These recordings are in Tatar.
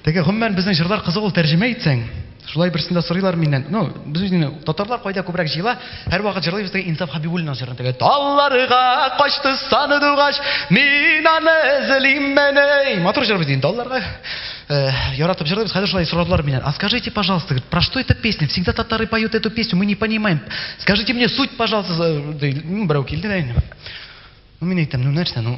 Теге гомумән безнең җырлар кызык ул тәрҗемә итсәң. Шулай берсендә сорыйлар миннән. Ну, без үзенең татарлар кайда күбрәк җыела? Һәрвакыт җырлыйбыз теге Инсаф Хабибуллинның җырын теге. Талларга качты саны дугач, мин аны эзлиммени. Матур җыр бит инде талларга. Э, яратып җырлыйбыз. Хәзер шулай сорадылар миннән. А скажите, пожалуйста, говорит, про что эта песня? Всегда татары поют эту песню, мы не понимаем. Скажите мне суть, пожалуйста, берәү килде дә инде. Ну, мин әйтәм, ну, нәрсә, ну,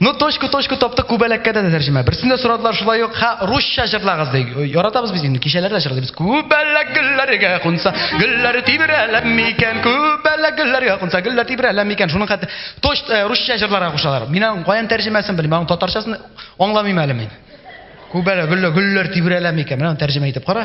Ну, точку, точку таптык, күбәләккә дә тәрҗемә. Берсен дә сорадылар шулай ук, ха, русча җырлагыз ди. Яратабыз без инде, кичәләр дә җырлыйбыз. Күбәләк гөлләргә кунса, гөлләр тибрәләм микән? Күбәләк гөлләргә кунса, гөлләр тибрәләм микән? Шуның хәтта точ э, русча җырларга кушалар. Мин аның каян тәрҗемәсен белмим, аның татарчасын аңламыйм әле мин. Күбәләк гөлләр, гөлләр тибрәләм микән? Менә тәрҗемә итеп кара.